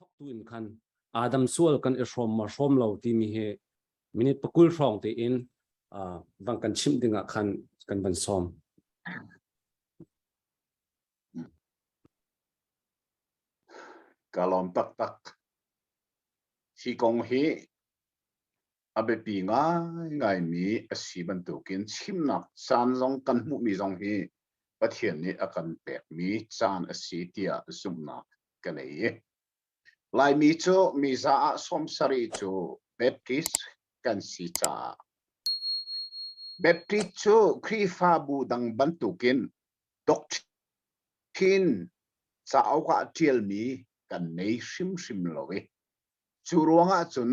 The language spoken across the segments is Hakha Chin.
A thawktu in khan Adam sual kan i hrawm ma hrawm lo timi hi minute pakul hrawng tein vang kan chimh dingah khan kan van sawm. Ka lawm taktak. Hi kong hi a biapi ngaingaimi a si bantukin chimnak caan zong kan hmuhmi zong hi Pathian nih a kan pekmi caan a si tiah zumhnak ka nei i Laimi cu mi za ah sawm sarih cu Baptist kan si caah Baptist cu Khrihfabu dang bantukin doctrine cauk ah ṭialmi kan nei hrimhrim lo i cu ruangah cun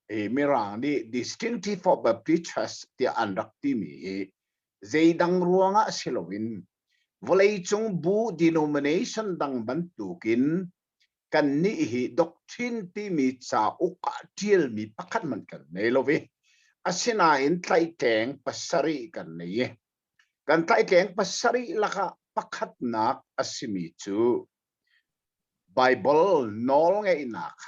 Mirang nih Distinctive for Baptist Church tiah an rak timi hi zeidang ruangah si loin vawleicung bu denomination dang bantukin kannih hi doctrine timi cauk ah ṭialmi pakhat man kan nei lo i asinain tlaihtleng pasarih kan nei i kan tlaihtleng pasarih lakah pakhatnak a simi cu Bible nawlngeihnak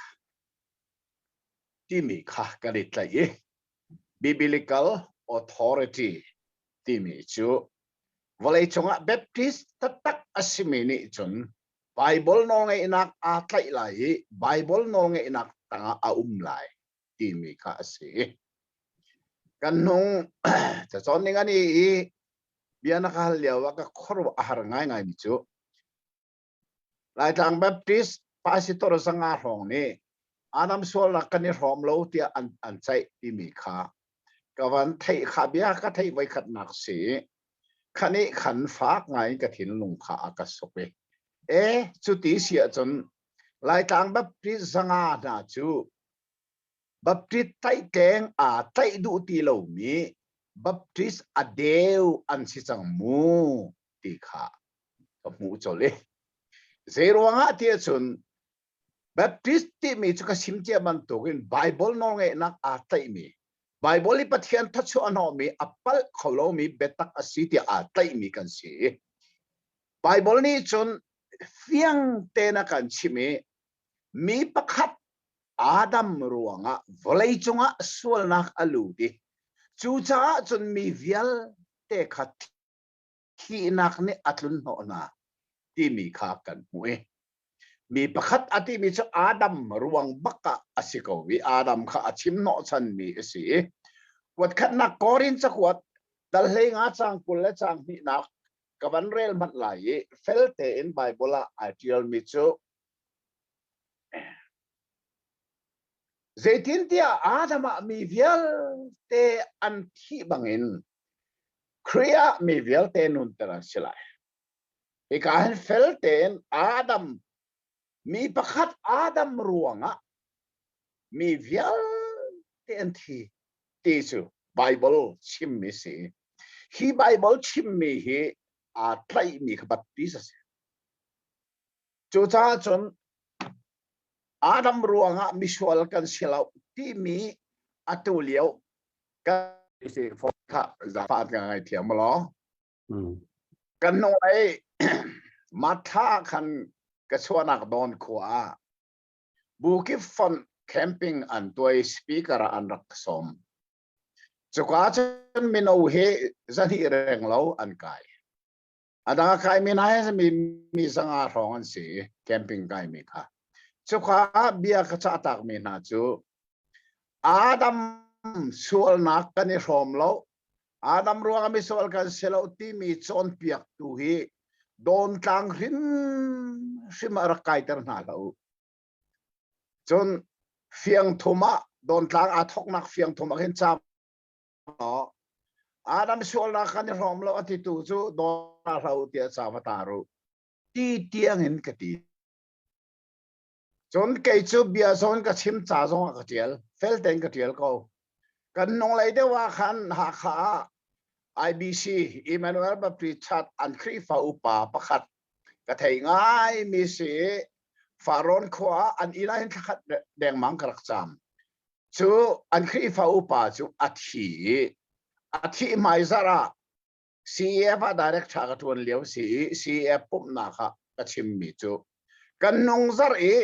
timi kha kan i tlaih i Biblical Authority timi cu vawlei cungah Baptist taktak a simi nih cun Baibal nawlngeihnak aa tlaih lai i Baibal nawlngeihnak tangah a um lai timi kha a si. Kan nung cacawn ning ani i bia na ka hal lio ah ka khuaruah a har ngaingaimi cu Laitlang Baptist pastor zanga hrawng nih anam sualnak kan i hrawm lo tiah an, an ceih timi kha ka van theih kha bia ka theih voi khat nak si khanih khan fak ngai ka thinlung kha a ka suk i e cuti si ahcun Laitlang Baptist zanga hna cu Baptist taih tleng aa taih duh ti lomi Baptist a deu an si cang mu ti kha ka hmuh colh i zeiruangah ti ahcun Baptist timi cu ka sim cia bantukin Bible nawlngeihnak aa tlaihmi Bible i Pathian thachuahhnawhmi a palh kho lomi biatak a si tiah aa tlaihmi kan si. Bible nih cun fiang tein a kan chimh i mi pakhat Adam ruangah vawlei cungah sualnak a lut i cucaah cun mi vialte kha thihnak nih a tlun hnawh hna timi kha kan hmuh i mi pakhat a timi cu Adam ruang bak ah a si ko i Adam kha a chim hnawhchanmi a si i kuatkhatnak Korin cakuat dal hlei nga cang kul le cang hnihnak ka van rel manh lai i fel tein Baibal ah ai ṭialmi cu Zeitintiah Adam ah mi vialte an thih bangin Khrih ah mi vialte nunter an si lai. Hika hin fel tein Adam mi pakhat Adam ruangah mi vialte an thi ti cu Bible chimmi si. Hi Bible chimmi hi aa tlaihmi kha bat ti a si. Cucaah cun Adam ruangah misual kan si lo timi atu lio kan si fo kha zafa kan ngai thiam maw law kan hnulei matha khan ka chuanak dawn khua ah bukip fonh camping an tuai speaker an rak som cuka cun mino he zahnih reng lo an kai A dang a khaimi hna hi mi, mi zanga hrawng an si i camping kaimi kha. Cuka ah bia ka cah takmi hna cu Adam sualnak kan i hrawm lo. Adam ruangah misual kan si lo timi cawnpiaktu hi dawn tlang hrim hrim a rak kaiter hna lo. Cun fiang thum ah dawn tlang aa thoknak fiang thum ah khin cam Adam sualnak kan i hrawm lo a ti tu cu dawna hro ti a sa ma ta ru ti tiang in ka ti cun kei cu bia zawn ka chim ca zong ah ka tial fel ten ka tial ko kan nong lei deuh ah khan Hakha IBC Emmanuel Baptist Church an Khrihfa upa pakhat ka thei ngaimi si Faron khua ah an ila hin thlakhat dengmang ka rak cam cu an Khrihfa upa cu a thi a thi hmai zarh ah CEF ah director ka ṭuan lio si i CEF pumhnak ah ka chimmi cu kan nung zarh i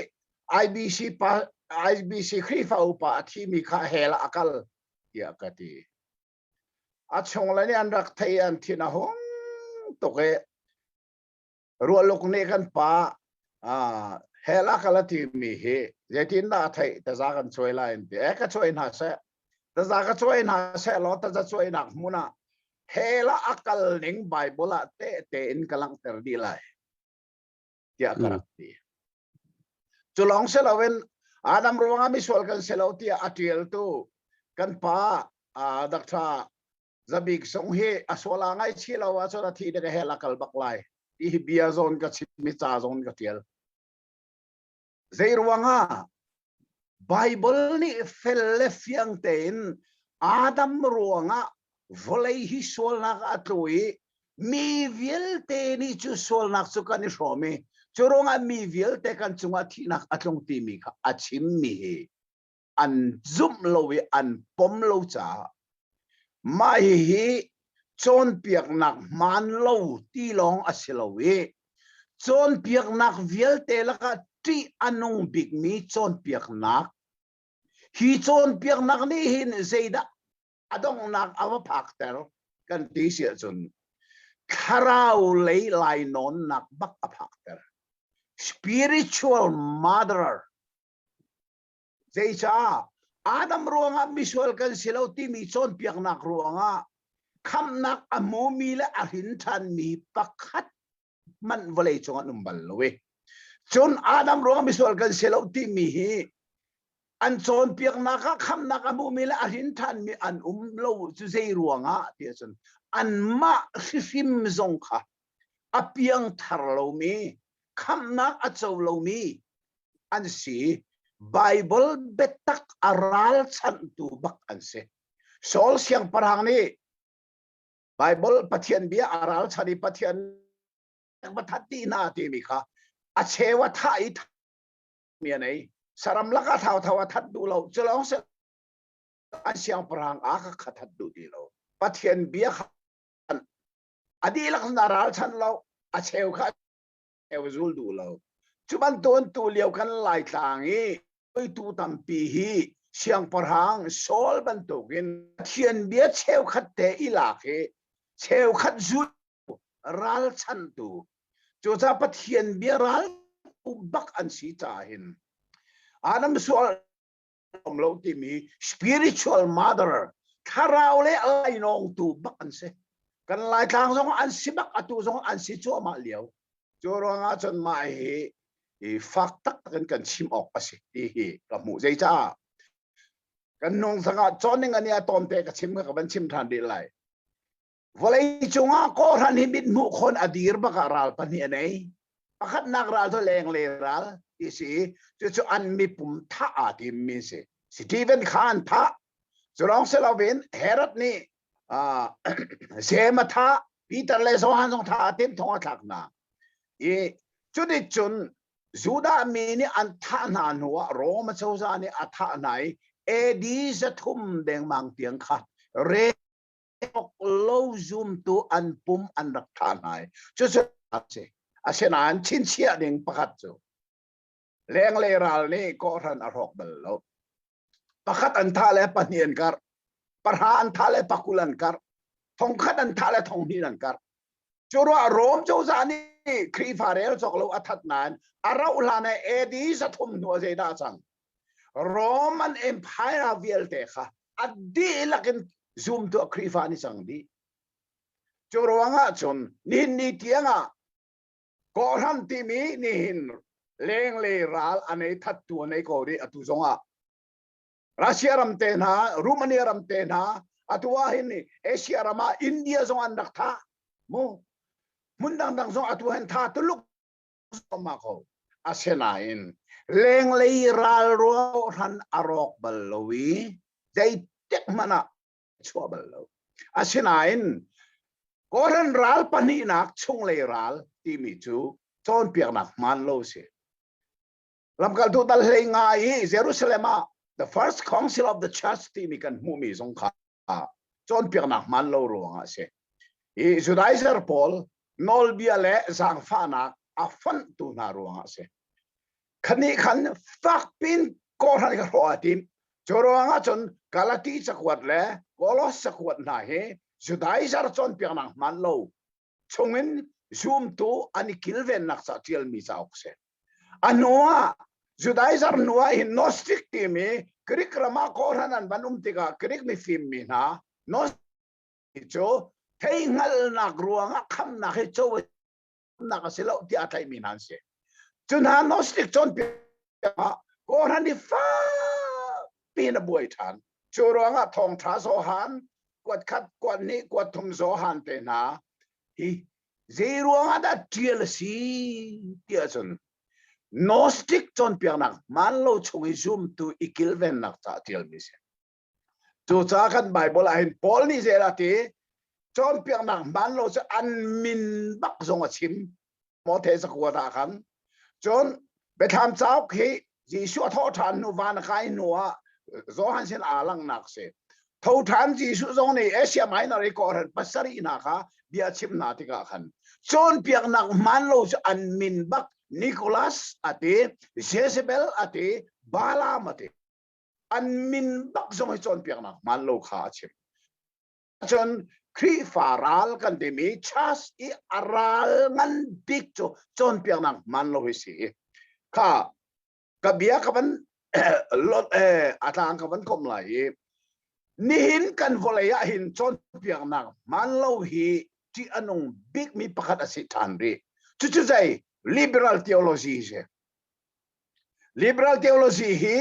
IBC pa IBC Khrihfa upa a thimi kha hell a kal tiah ka ti a chung le nih an rak thei an thin a hung tuk i rualuk nih kan pa hela ka la ti mi hi zeitin dah a theih taza kan cuai lai an ti e ka cuai hna seh taza ka cuai hna seh law taza cuai nak hmun ah hela a kal ning bible ah te te in ka langhter dih lai tiah ka rak ti. Cu lawng si loin Adam ruangah misual kan si lo tiah a ṭialtu kan pa Dr. Zabik Sung hi a suala ngaichih lo ahcun a thi dek he la kal bak lai. Hi bia zong ka chim, mi ca zong ka ṭial. Zeiruangah? Bible nih fel le fiang tein Adam ruangah vawlei hi sualnak a tlu i mi vialte nih cu sualnak cu kan i hrawm i cu ruangah mi vialte kan cungah thihnak a tlung timi kha a chimmi hi an zumh lo i an pom lo caah mah hihi cawnpiaknak hmaan lo ti lawng a si lo i cawnpiaknak vialte lakah ṭih a nung bikmi cawnpiaknak hi cawnpiaknak nih hin zeidah a donghnak a va phakter kan ti si ahcun thlarau lei lainawnnak bak a phakter spiritual mother Zeicah? Adam ruangah misual kan si lo timi cawnpiaknak ruangah khamhnak a hmumi le a hrinthanmi pakhat hmanh vawlei cung an um bal lo i cun Adam ruangah misual kan si lo timi hi an cawnpiaknak ah khamnak a hmumi le a hrinthanmi an um lo cu zei ruangah ti ahcun anmah hrihrim zong kha a piangthar lomi, khamhnak a co lomi an si. Baibal biatak a ralchanhtu bak an si. Saul siangpahrang nih Baibal Pathian bia a ralchan i Pathian pathat ti na timi kha a cheu a thah i mi a nei. Saram laka thau thau a that duh lo. Culawng se an siangpahrang a ka kha that duh ti lo. Pathian bia kha a dihlak na ralchanh lo a cheu kha cheu zul duh lo cu bantuan tu lio kan lai tlang i tu tampi hi siangpahrang Saul bantukin thian bia cheukhat te i lak hi cheukhat zul ralchan tu cuca pathian bia ral bak an si ca hin anam sual um lo timi spiritual mother thlarau le lainawng tu bak an si kan laitlang zong an si bak atu zong an si cuahmah liau cu ruang ah cun mah hi i fak tak in kan chim awk a si ti hi ka hmuh zei caah kan nung thang ah johning ani a tawmte ka chim ka van chim than rih lai vawlei cungah kawhhran hi mit hmuh khon a dir bak ah ral pahnih a nei pakhatnak ral cu leng le ral ti si cucu an mipum thah aa tim mi si Stephen Khan thah culong si loin Herod nih uh, sem a thah Peter le Johan zong thah a tim thong a thlak hna i cu ni cun Judah mi nih an thah hna hnu ah Rome a cozah nih a thah hna i AD za thum dengmang tiang kha re tlok lo zumtu an pum an rak ṭha hna i cucu a si asinain chinchiah ding pakhat cu leng le ral nih kawhhran a hrawk bal lo pakhat an thah le pahnih an karh pahra an thah le pakul an karh thongkhat an thah le thonghnih an karh cu ruah Rome cozah nih Khrihfa rel cawk lo a that nain a rauh hlan e AD sathum hnu a zeidah cang Roman Empire ah vialte kha a dihlak in zumtuah Khrihfa nih cang dih. Cu ruangah cun nihin ni tiangah kawhhram timi nihin leng le ral a nei thattu a nei ko dih atu zongah Russia ram te hna Romania ram te hna atu ah hin Asia ram ah India zong an rak tha mu hmun dangdang zong atu hen tha tuluk zuahmah ko. Asinain lenglei ralrawh hran a rawk bal lo i zeitik hmanh ah chuah bal lo. Asinain Koran ral pahnihnak chunglei ral timi cu cawnpiaknak hmaan lo si. lamkaltu tal hlei ngai i Jerusalem ah the first council of the church timi kan hmuhmi zong kha cawnpiaknak hmaan lo ruangah a si i Judaizer pawl nawlbia le zaangfahnak a fonhtu hna ruangah a si khanih khan fakpin kohran ka hrawh a tim cu ruangah cun Galati cakuat le Kolos cakuat hna hi Judaizer cawnpiaknak hmaan lo chungin zumtu an i kilvennak ca ṭialmi cauk si. A hnu ah Judaism hnu ah hin Gnostic timi Greek ram ah Koran an van um tikah Greek mifimmi hna Gnostic cu theihngalnak ruangah khamnak hi cawnak a si lo tiah a tlaihmi hna an si. Cu hna Gnostic cawnpiak ah Koran i fak pin a buai ṭhan. Cu ruangah thawngṭha Johan, kuat khat, kuat hnih, kuat thum Johan te hna hi zeiruangah dah ṭial a si ti ahcun Gnostic cawnpiaknak man lo chung i zumtu i kilvennak caah ṭialmi a si. Cucaah kan Baibal ah hin Paul nih zeidah a ti? Cawnpiaknak man lo cu an min bak zong a chim. maw thesakua ta khan cun biathlam cauk hi Jesuh a thawh ṭhan hnu van a kai hnu ah Johan sin aa langnak si tho ṭhan Jesuh zong nih Asia Minor i kawhhran pasarih hna kha bia chim hna tikah khan cun piaknak hmaan lo cu an min bak Nicholas a ti Jezebel a ti Balaam a ti an min bak zong hi cawnpiaknak hmaan lo kha a chim Cun Khrihfa ral kan timi church i a ral ngan bik cu cawnpiaknak man lo hi si. Kha ka bia ka van lot eh a tlang ka van kom lai i nihin kan vawlei ah hin cawnpiaknak man lo hi ṭih a nung bikmi pakhat a si ṭhan rih. Cucu zei liberal theology si. Liberal theology hi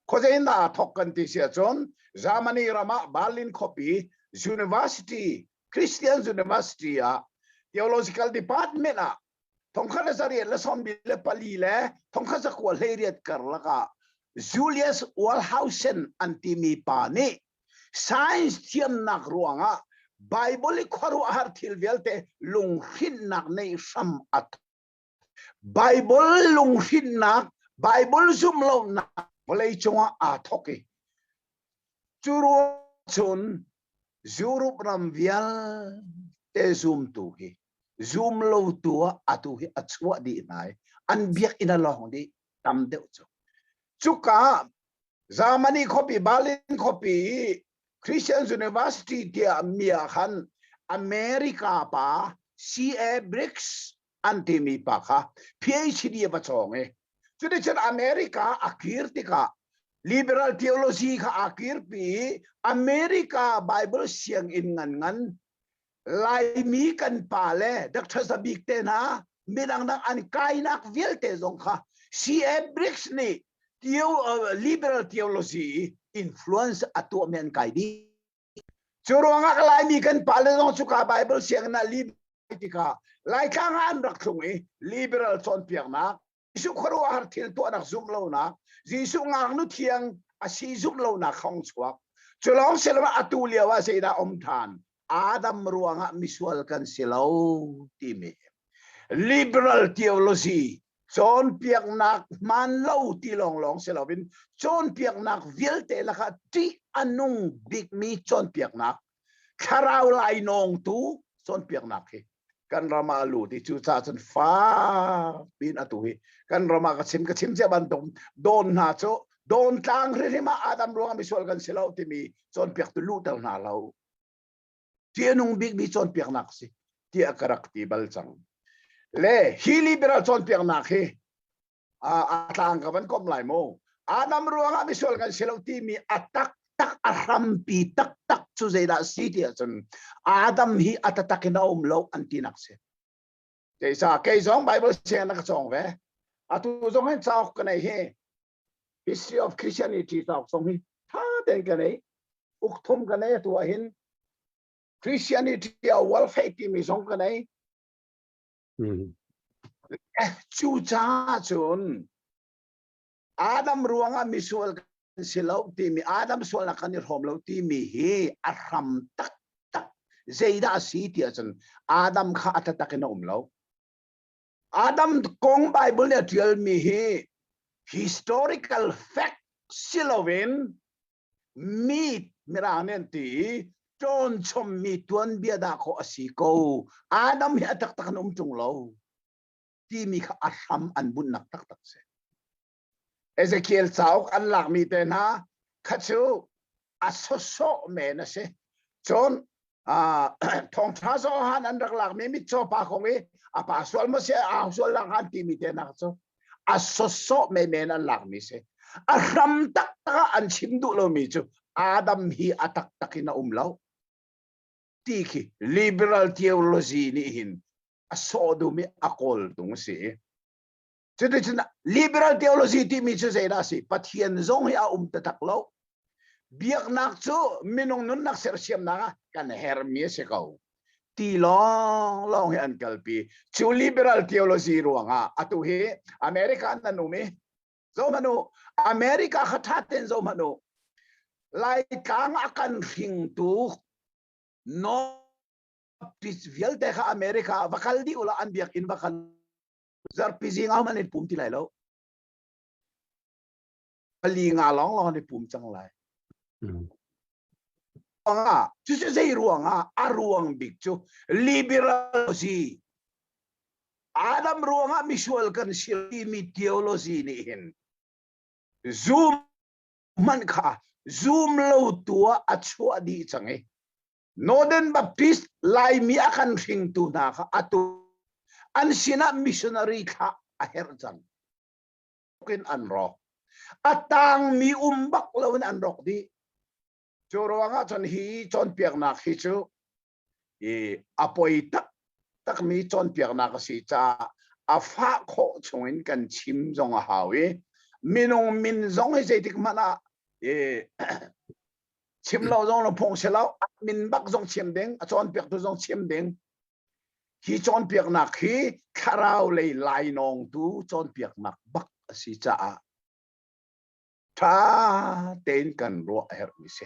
khuazeinak ah thawk kan ti si ahcun Germany ram ah Berlin khuapi university Christian University ah theological department ah thongkhat le sariat le sawmbi le pali le thongkhat sakua hleiriat karlak ah Julius Walhausen an timi pa nih science thiamnak ruangah Bible i khuaruahhar thil vialte lunghrinhnak nei hram a Baibal lunghrinnak, Baibal zumlonak vawlei cungah aa thawk i cu ruang cun Europe ram vialte zumtu hi zum lotu ah atu hi a chuah dih hna i an biakinn a lawng dih tam deuh cu. Cuka ah Germany khuapi, Berlin khuapi i Christian University tiah mi ah khan America pa C.A. Briggs an timi pa kha PhD a va chawng i cuticun America a kir tikah liberal theology kha a kirpi i America Bible sianginn ngan Laimi kan pa le Dr. Zabik te hna midang dang an kainak vialte zong kha C.A. Briggs nih liberal theology influence a tuahmi an kai dih. Cu ruangah Laimi kan pale zong cu ka Baibal sianginn ah li tikah Laitlang ah an rak thlung i liberal cawnpiaknak Jesuh khuaruahhar thil tuahnak zumh lonak Jesuh ngaknu thiang a si zumh lonak kong chuak cu lawng si loah atu lio ah zeidah um ṭhan Adam ruangah misual kan si lo timi liberal theology cawnpiaknak hmaan lo ti lawnglawng si loin cawnpiaknak vialte lakah ṭih a nung bikmi cawnpiaknak thlarau lainawngtu cawnpiaknak hi kan ram ah lut i cu ca cun fak pin atu hi kan ram ah ka chim ka chim cia bantuk dawn hna cu dawn tlang rirhim ah adam ruangah misual kan si lo timi cawnpiak tu luhter hna lo ṭihnung bikmi cawnpiaknak si tiah ka rak ti bal cang le hi liberal cawnpiaknak hi a tlang ka van kom lai maw adam ruangah misual kan si lo timi a tak tak a hrampi tak tak cu zeidah si ti ahcun adam hi a tatak in a um lo an tinak si keisa kei zong bible siang na ka cawng ve atu zong hin cauk ka nei hi history of christianity talk song hi tha ten ka nei uk thum ka nei tu hin christianity a welfare timi song ka nei cu cha cun adam ruangah misual kan si lo timi adam sualnak kan i hrom lo timi hi a hram tak tak zeidah a si ti ahcun adam kha a tatak in a um lo Adam kong Baibal nih a ṭialmi hi historical fact si loin mi mirang nih an ti i ṭawnchommi tuanbia dahkhawh a si ko. Adam hi a taktak in um ṭung lo timi kha a hram an bunhnak taktak si. Ezekiel cauk an lakmi te hna kha cu a sawsawh men a si. Cun thawngṭha zohan an rak lakmi mitcaw pa kong i a pa sual maw si au sual lang han timi te hna cu a sawsawh menmen an lakmi si. A hram taktak ah an chim duh lomi cu Adam hi a taktak in a um lo ti khi liberal theology nih hin a sawh dum i a kawl tung a si. Cuticun liberal theology timi cu zeidah a si? Pathian zong hi a um taktak lo. Biaknak cu minung nunnak sersiamnak ah kan herhmi a si ko. Ti lawnglawng hi an kalpi. Cu liberal theology ruangah atu hi America an nan um i zohmanh u America kha thaten zohmanh u Laitlang a kan hringtu no vialte kha America va kal dih ula an biakinn va kal zarhpi zing ah an i pum ti lai lo pali nga lawng lawng an i pum cang lai ruangah cucu zei ruangah a ruang bik cu liberalism adam ruangah misual kan si mi theology nih hin zoom hmanh kha zoom lo tu ah a chuah dih cang i Noden Baptist Laimi a kan hringtu hna kha atu an sinah missionary thlah a herh cang. In an rawk. A tangmi um bak lo in an rawk dih. Cu ruangah cun hi cawnpiaknak hi cu i a poi tak takmi cawnpiaknak a si caah a fah khawh chungin kan chim zong a hau i minung min zong hi zeitik hmanh ah i chim lo zong na phung si lo min bak zong chim ding a cawnpiak tu zong chim ding hi cawnpiaknak hi thlarau lei lainawng tu cawnpiaknak bak a si caah tha tein kan ruah a herh mi si